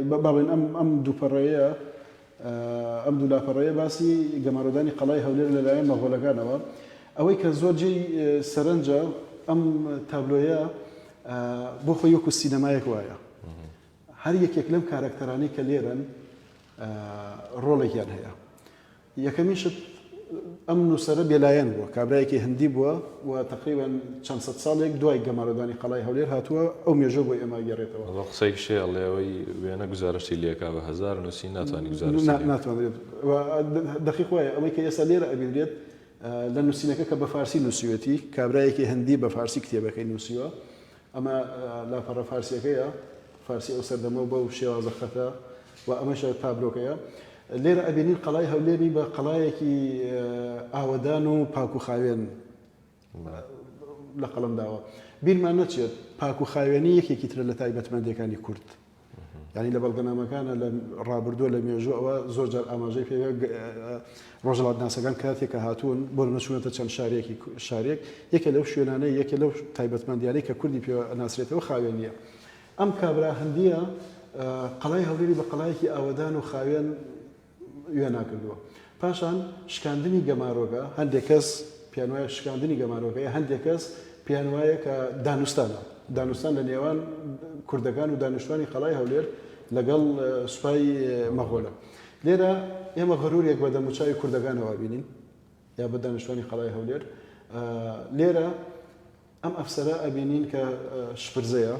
Speaker 1: با بڵێین ئەم ئەم دوو پەڕەیە ئەم دوو لاپەڕەیە باسی گەمارۆدانی قەڵای هەولێر لە لایەن مەغۆلەکانەوە ئەوەی کە زۆر جێی سەرنجە ئەم تابلۆیە بۆ خۆی وەکو سینەمایەک وایە هەر یەکێک لەم کارەکتەرانی کە لێرن ڕۆڵێکیان هەیە یەکەمیشت ئەم نووسەرە بێلایەن بووە، کابرایەکی هندی بووە و تەقریبەن چەند سەد ساڵێک دوای گەمارۆدانی قەڵای هەولێر هاتووە، ئەو مێژووە بۆ ئێمە ئەگێڕێتەوە. ئەوە قسەی کشێ ئەڵێ
Speaker 2: ئەوەی وێنە گوزارشتی لێکا بە هەزار نووسین ناتوانی گوزارشتی لێکا. ناتوانرێت و
Speaker 1: دەقیق وایە ئەوەی کە ئێستا لێرە ئەبینرێت لە نووسینەکە کە بە فارسی نووسیوێتی، کابرایەکی هندی بە فارسی کتێبەکەی نووسیوە ئەمە لاپەڕە فارسییەکەیە، فارسی ئەو سەردەمەو بەو شێوازە خەتە و ئەمەشە تابلۆکەیە. لێرە ئەبینین قەڵای هەولێری بە قەڵایەکی ئاوەدان و پاک و خاوێن لە قەڵەم داوە. بیرمان نەچێت پاک و خاوێنی یەکێکی ترە لە تایبەتمەندییەکانی کورد. یانی لە بەڵگەنامەکانە لە ڕابردووە لە مێژوو ئەوە زۆر جار ئاماژەی پێ ڕۆژەڵاتناسەکان کاتێک کە هاتوون بۆ نەچوونەتە چەند شارێکی شارێک یەکە لەو شوێنانەی یەکە لەو تایبەتمەندیانەی کە کوردی پێ ناسرێتەوە خاوێن نیە ئەم کابرا هەندیە قەڵای هەولێری بە قەڵایەکی ئاوەدان و خاوێن وێنا کردووە. پاشان شکاندنی گەمارۆگە، هەندێک کەس پێیان وایە شکاندنی گەمارۆگەیە، هەندێک کەس پێیان وایە کە دانوستانە، دانوستان لە نێوان کوردەکان و دانیشتوانی قەڵای هەولێر لەگەڵ سوپای مەغۆلە. لێرە ئێمە غەرورێک بە دەموچاوی کوردەکانەوە ئەبینین یا بە دانیشتوانی قەڵای هەولێر. لێرە ئەم ئەفسەرە ئەبینین کە شپرزەیە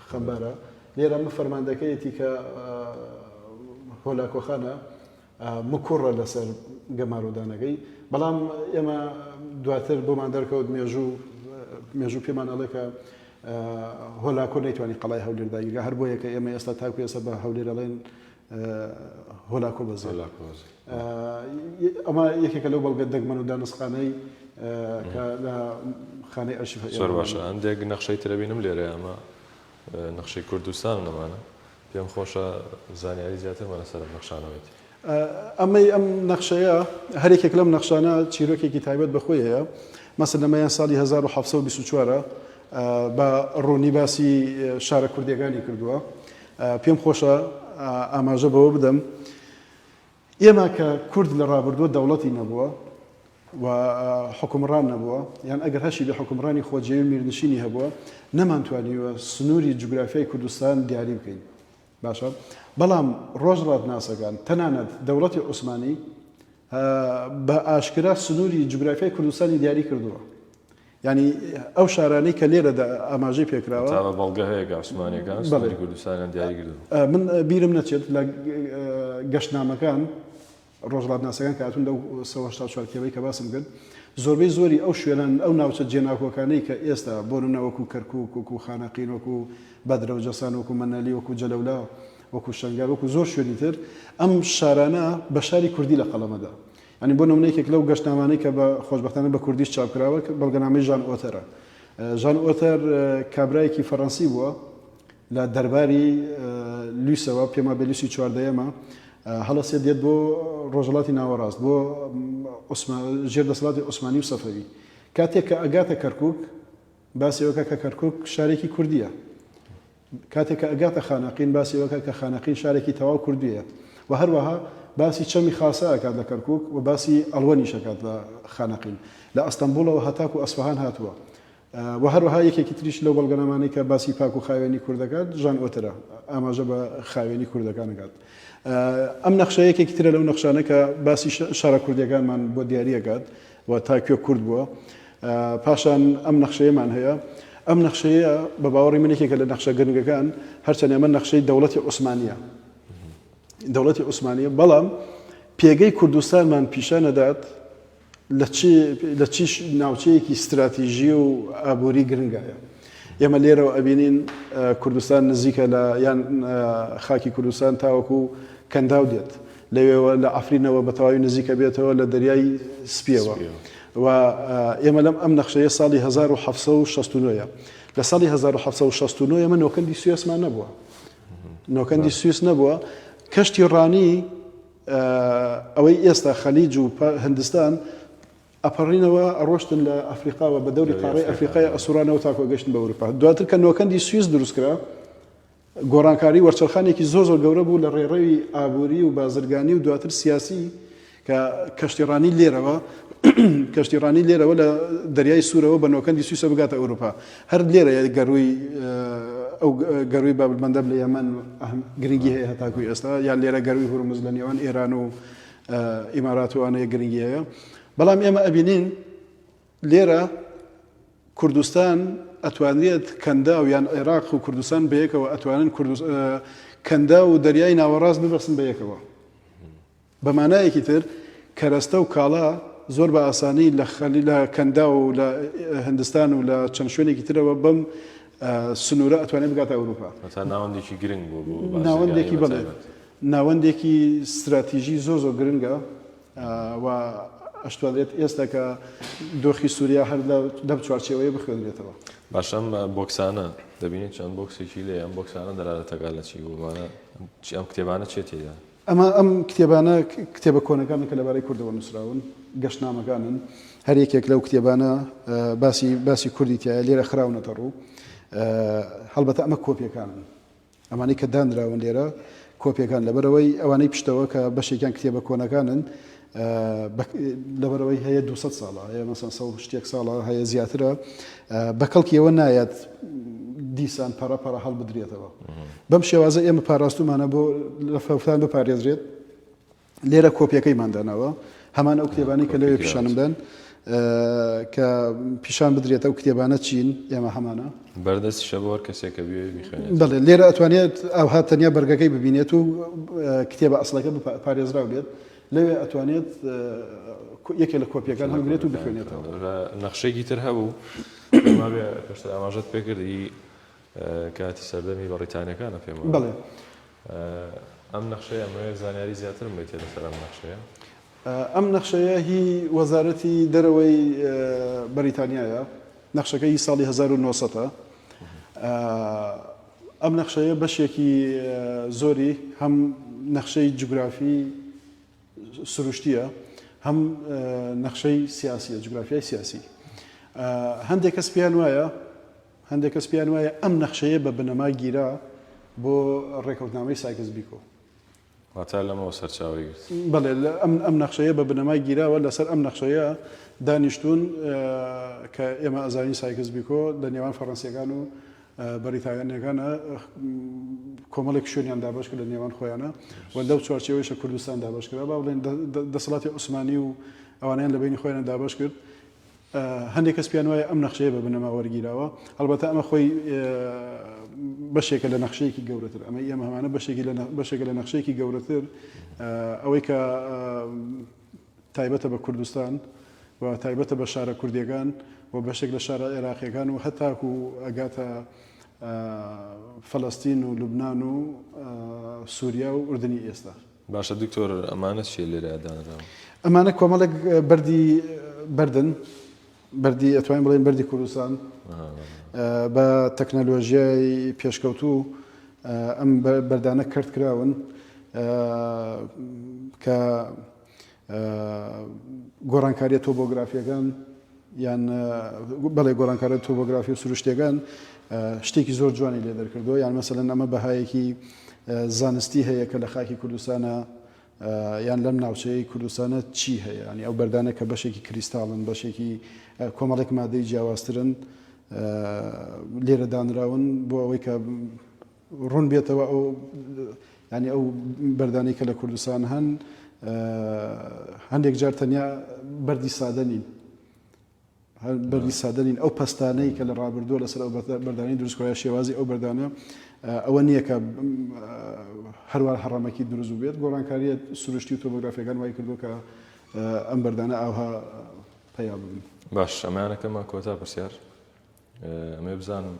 Speaker 1: خەمبارە لێرە من فەرماندەکەیەتی کە هۆلاکۆخانە مکوڕە لەسەر گەمارۆدانەکەی بەڵام ئێمە دواتر بۆمان دەرکەوت مێژوو مێژوو پێمان ئەڵێکە هۆلاکۆ نەیتوانانی قەڵای هەولێرداگیرگە هەر بۆیەکە ئێمە ئێستا تاکو ئێستا بە هەولێرەڵێن هۆلاکۆ بەزێ. ئەمە یەکێکە لەو بەڵگە دەگمەن و دانوستخانەی کە لە خانەی ئەرشیف هەیە. زۆر باشە هەندێک
Speaker 2: نەخشەی تر ئەبینم لێرە ئەمە نەخشەی کوردستان و نەمانە. پێم خۆشە زانیاری زیاترمان لەسەر ئەم نەخشانە بێت. ئەمەی
Speaker 1: ئەم نەخشەیە هەر یەکێک لەم نەخشانە چیرۆکێکی تایبەت بە خۆی هەیە. مەسەلەن ئەمەیان ساڵی هەزار و حەفت سەد و بیست و چوار بە ڕوونی باسی شارە کوردییەکانی کردووە. پێم خۆشە ئاماژە بەوە بدەم ئێمە کە کورد لە ڕابردووە دەوڵەتی نەبووە و حکومڕان نەبووە یان ئەگەر هەشی بە حکومڕانی خۆجێوی میرنشینی هەبووە نەمانتوانیوە سنووری جوگرافیای کوردستان دیاری بکەین باشە بەڵام ڕۆژڕات ناسەکان تەنانەت دەوڵەتی عوسمانی بە ئاشکرا سنووری جوگرافیای کوردستانی دیاری کردووە یانی ئەو شارانەی کە لێرەدا ئاماژەی پێکراوە. تابە بەڵگە هەیە کە
Speaker 2: عوسمانیەکان سنوری کوردستانیان دیاری کردووە. من بیرم نەچێت
Speaker 1: لە گەشتنامەکان ڕۆژڵاتناسەکان کە هاتوون لەو سەد و هەشتا و چوار کتێبەی کە باسم کرد زۆربەی زۆری ئەو شوێنان ئەو ناوچە جێناکۆکانەی کە ئێستا بۆ نمونە وەکو کەرکوک وەکو خانەقین وەکو بەدرە و جەسان وەکو مەنەلی وەکو جەلەولا وەکو شەنگال وەکو زۆر شوێنی تر ئەم شارانە بە شاری کوردی لە قەڵەمەدا یانی بۆ نمونە یەکێک لەو گەشتنامانەی کە بە خۆشبەختانە بە کوردیش چاپ کراوە بەڵگەنامەی ژان ئۆتەرە. ژان ئۆتەر کابرایەکی فەرەنسی بووە لە دەرباری لویسەوە پێما بێ لویسی چواردەیەمە هەڵەسێ دێت بۆ ڕۆژەڵاتی ناوەڕاست بۆ ژێر دەسەڵاتی عوسمانی و سەفەوی کاتێک کە ئەگاتە کەرکک باسیەوەکە کە کەرکک شارێکی کوردیە کاتێک کە ئەگاتە خانەقین باسی ئەوە ئەکات کە خانەقین شارێکی تەواو کوردییە و هەروەها باسی چەمی خاسە ئەکات لە کەرکووک و باسی ئەڵوەنیش ئەکات لە خانەقین لە ئەستەنبووڵەوە هەتاکوو ئەسفەهان هاتووە و هەروەها یەکێکی تریش لەو بەڵگەنامانەی کە باسی پاک و خاوێنی کورد دەکات ژان ئۆترە ئاماژە بە خاوێنی کوردەکان دەکات ئەم نەخشە یەکێکی ترە لەو نەخشانە کە باسی شارە کوردیەکانمان بۆ دیاریەکات و تا کوێ کورت بووە. پاشان ئەم نەخشەیەمان هەیە. ئەم نەخشەیە بە باوەڕی من یەکێکە لە نەخشە گرنگەکان، هەرچەند ئەمە نەخشەی دەوڵەتی عوسمانییە. دەوڵەتی عوسمانییە، بەڵام پێگەی کوردستانمان پیشان ئەدات لە چ لە چ ناوچەیەکی ستراتیژی و ئابووری گرنگایە. ئێمە لێرەوە ئەبینین کوردستان نزیکە لە یان خاکی کوردستان تاوەکوو کەنداو دێت. لەوێوە لە عەفرینەوە بە تەواوی نزیک ئەبێتەوە لە دەریای سپیەوە و ئێمە لەم ئەم نەخشەیە ساڵی هەزار و حەفسە و شەست و نۆیە لە ساڵی هەزار و حەفسە و شەست و نۆیە من نۆکەندی سوێسمان نەبووە نۆکەندی سویس نەبووە کەشتی ڕانی ئەوەی ئێستا خەلیج و هندستان ئەپەڕینەوە ئەڕۆشتن لە ئەفریقاوە بە دەوری قاڕی ئەفریقای ئەسوورانەوە تاکۆ گەشتن بە ئەوروپا دواتر کە نۆکەندی سویس دروستکرا گۆڕانکاری وەرچەرخانێکی زۆر زۆر گەورە بوو لە ڕێڕەوی ئابووری و بازرگانی و دواتر سیاسی کە کەشتیڕانی لێرەوە کەشتیڕانی لێرەوە لە دەریای سوورەوە بە نۆکەندی سویسە بگاتە ئەوروپا هەر لێرە گەرووی ئەو گەرووی بابلمەندەب لە یەمەن گرنگی هەیە هەتاکوی ئێستا یان لێرە گەرووی هورمز لە نێوان ئێران و ئیماراتوانەیە گرنگی هەیە بەڵام ئێمە ئەبینین لێرە کوردستان ئەتوانرێت کەنداو یان عێراق و کوردستان بەیەکەوە ئەتوانن کەندا و دەریای ناوەڕاست ببەسن بە یەکەوە بەمانایەکی تر کەرەستە و کاڵا زۆر بە ئاسانی لە خەلی لە کەندا و لە هندستان و لە چەند شوێنێکی ترەوە بەم سنوورە ئەتوانێت بگاتە ئەوروپا ناوەندێکی گرنگ
Speaker 2: بۆ ناوەندێکی بڵێ
Speaker 1: ناوەندێکی استراتیژی زۆر زۆر گرنگە و ئەشتوانرێت ئێستا کە دۆخی سوریا هەر لەم چوارچێوەیە بخوێنرێتەوە. باشە ئەم
Speaker 2: بۆکسانە دەبینین چەند بۆکسێکی لێیە، ئەم بۆکسانە دەلالەتەکە لە چی بوو؟ مانا چی ئەم کتێبانە چیە تێیدا؟ ئەمە ئەم
Speaker 1: کتێبانە کتێبە کۆنەکانن کە لەبارەی کوردەوە نووسراون، گەشتنامەکانن، هەر یەکێک لەو کتێبانە باسی باسی کوردی تیایە، لێرە خراونەتە ڕوو، هەڵبەتە ئەمە کۆپیەکانن، ئەمانەی کە دانراون لێرە کۆپیەکان لەبەرئەوەی ئەوانەی پشتەوە کە بەشێکیان کتێبە کۆنەکانن لەبەرەوەی هەیە 200 ساڵە هەیە مەسەن سە شتێک ساڵە هەیە زیاترە بە کەڵکیەوە نایەت دیسان پەڕە پەڕە هەڵبدرێتەوە بەم شێوازە ئێمە پاراستومانە بۆ لە فەوتان بپارێزرێت لێرە کۆپیەکەیمان داناوە هەمان ئەو کتێبانەی کە لەوێ پیشانم بن کە پیشان بدرێت ئەو کتێبانە چین ئێمە هەمانە بەردەست شەبوار
Speaker 2: کەسێکە بڵێ لێرە ئەتوانێت
Speaker 1: ئەوها تەنیا بەرگەکەی ببینێت و کتێبە ئەسڵەکە پارێزرا بێت لەوێ ئەتوانێت یەکێ لە کۆپیەکان هەڵگرێت و بخوێنێتەوە نەخشێکی تر
Speaker 2: هەبوو ئاماژەت پێکردی کاتی سەردەمی بەڕیتانیەکانە پێم وایە. بەڵێ. ئەم نەخشەیە ئەمەوێ زانیاری زیاترم بەیتێ لەسەر ئەم نەخشەیە. ئەم
Speaker 1: نەخشەیە هی وەزارەتی دەرەوەی بەریتانیایە، نەخشەکە هی ساڵی هەزار و نۆ سەد ە. ئەم نەخشەیە بەشێکی زۆری هەم نەخشەی جوگرافی سروشتیە هەم نەخشەی سیاسیە، جوگرافیای سیاسی. هەندێ کەس پێیان وایە هەندێک کەس پێیان وایە ئەم نەخشەیە بە بنەما گیرا بۆ ڕێکەوتنامەی سایکس بیکۆ. واتە
Speaker 2: لەمەوە سەرچاوەی گرت. بەڵێ
Speaker 1: ئەم نەخشەیە بە بنەما گیراوە، لەسەر ئەم نەخشەیە دانیشتوون کە ئێمە ئەزانین سایکس بیکۆ لە نێوان فەڕەنسییەکان و بەریتانییەکانە کۆمەڵێک شوێنیان دابەش کرد لە نێوان خۆیانە و لەو چوارچێوەیشە کوردستان دابەش کرا با بڵێن دەسەڵاتی عوسمانی و ئەوانیان لە بینی خۆیانە دابەش کرد. هەندێک کەس پێیان وایە ئەم نەخشەیە بە بنەما وەرگیراوە، هەڵبەتە ئەمە خۆی بەشێکە لە نەخشەیەکی گەورەتر، ئەمەی ئێمە هەمانە بەشێکە لە نەخشەیەکی گەورەتر، ئەوەی کە تایبەتە بە کوردستان و تایبەتە بە شارە کوردیەکان و بەشێک لە شارە عێراقیەکان و هەتاکو ئەگاتە فەلەستین و لوبنان و سوریا و ئوردنی ئێستا. باشە دکتۆر
Speaker 2: ئەمانە چیە لێرە دانراون. ئەمانە کۆمەڵێک
Speaker 1: بەردی بەردن بەردی ئەتوانین بڵێن بەردی کوردستان بە تەکنەلۆژیای پێشکەوتوو ئەم بەردانە کەرت کراون کە گۆڕانکارییە تۆبۆگرافییەکان یان بەڵێ گۆڕانکارە تۆبۆگرافی و سروشتیەکان شتێکی زۆر جوانی لێ دەرکردەوە یان مەسەلەن ئەمە بەهایەکی زانستی هەیە کە لە خاکی کوردستانە یان لەم ناوچەیە کوردستانە چی هەیە ینی ئەو بەردانە کە بەشێکی کریستاڵن بەشێکی کۆمەڵێک مادەی جیاوازترن لێرە دانراون بۆ ئەوەی کە ڕوون بێتەوە ئەو یعنی ئەو بەردانەی کە لە کوردستان هەن هەندێک جار تەنیا بەردی سادە نین بەردی سادە نین ئەو پستانەی کە لە ڕابردووە لەسەر ئەو بەردانی دروستکرای شێوازی ئەو بەردانە ئەوە نییە کە هەروار هەڕەمەکی دروست بێت گۆڕانکاریە سروشتی و تۆمۆگرافیەکان وای کردو کە ئەم بەردانە ئاها پیا بن باش ئەمانەکەمان
Speaker 2: کۆتا پرسیار ئەمێ بزانم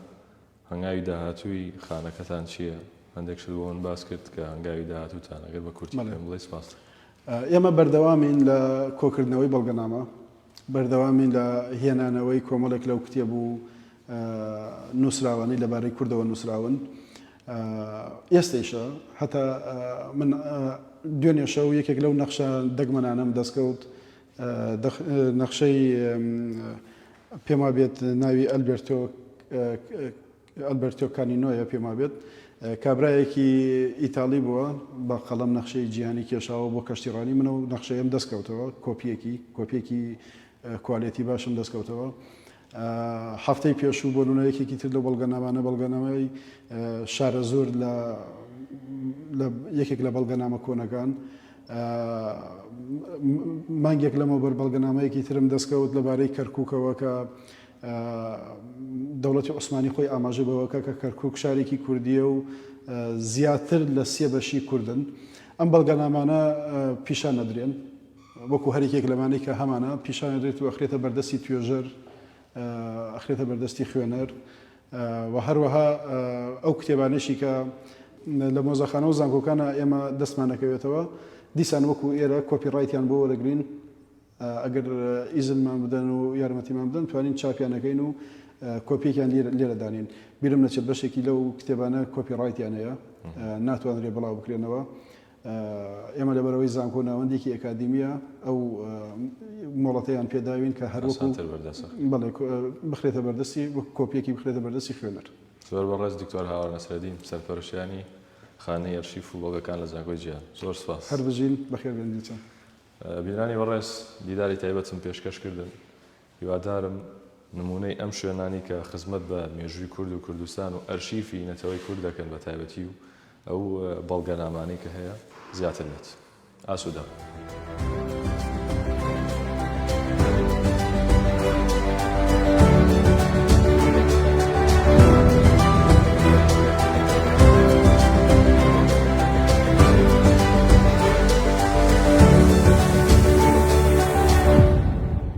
Speaker 2: هەنگاوی داهاتووی خانەکەتان چییە؟ هەندێک شت بۆ من باس کرد کە هەنگاوی داهاتووتانە، گەر بە کورتی پێم بڵێی سپاست دەکەم. ئێمە
Speaker 1: بەردەوامین لە کۆکردنەوەی بەڵگەنامە، بەردەوامین لە هێنانەوەی کۆمەڵێک لەو کتێب و نووسراوانەی لەبارەی کوردەوە نووسراون. ئێستەیشە هەتا من دوێنێ شەو یەکێک لەو نەخشە دەگمەنانەم دەستکەوت، دەخ نەخشەی پێم وابێت ناوی ئەلبێرتۆ ئەلبێرتۆ کانینۆیە پێم وابێت کابرایەکی ئیتاڵی بووە بە قەڵەم نەخشەی جیهانی کێشاوە بۆ کەشتیڕانی منە و نەخشەیەم دەستکەوتەوە کۆپیەکی کۆپیەکی کوالێتی باشم دەستکەوتەوە هەفتەی پێشوو بۆ نمونە یەکێکی تر لەو بەڵگەنامانە بەڵگەنامەی شارەزوور لە یەکێک لە بەڵگەنامە کۆنەکان مانگێک لەمەو بەر بەڵگەنامەیەکی ترم دەستکەوت لەبارەی کەرککەوە کە دەوڵەتی عوسمانی خۆی ئاماژە بەوەکە کە کەرکک شارێکی کوردیە و زیاتر لە سێ بەشی کوردن ئەم بەڵگەنامانە پیشان نەدرێن وەکو هەر یەکێک لەمانەی کە هەمانە پیشان ئەدرێت و ئەخرێتە بەردەستی توێژەر، ئەخرێتە بەردەستی خوێنەر و هەروەها ئەو کتێبانەیشی کە لە مۆزەخانە و زانکۆکانە ئێمە دەستمان ئەکەوێتەوە دیسان وەکو ئێرە کۆپی ڕایتیان بۆ وەرەگرین ئەگەر ئیزنمان بدەن و یارمەتیمان بدەن توانین چاپیان ئەکەین و کۆپیەکیان لێرە دانین بیرم نەچێت بەشێکی لەو کتێبانە کۆپی ڕایتیان هەیە ناتوانرێ بڵاو بکرێنەوە ئێمە لەبەرەوەی زانکۆ ناوەندێکی ئەکادیمییە ئەو مۆڵەتەیان پێداوین کە هەر وەکو ئاسانتر بەردەست بخرێت. بەڵێ کو بخرێتە بەردەستی وەک کۆپیەکی بخرێتە بەردەستی خوێنەر. زۆر بەڕێز دکتۆر
Speaker 2: هاوار نەسرەدین سەرپەرشتیانی خانەی ئەرشیف و بەڵگەکان لە زانکۆی جیهان. زۆر سپاس. هەربژین، بەخێربێن
Speaker 1: دیتان. بینەرانی
Speaker 2: بەڕێز دیداری تایبەتم پێشکەش کردن هیوادارم نموونەی ئەم شوێنانەی کە خزمەت بە مێژووی کورد و کوردستان و ئەرشیفی نەتەوەی کورد دەکەن بە تایبەتی و ئەو بەڵگەنامانەی کە هەیە زیاتر بێت. ئاسوودەبن.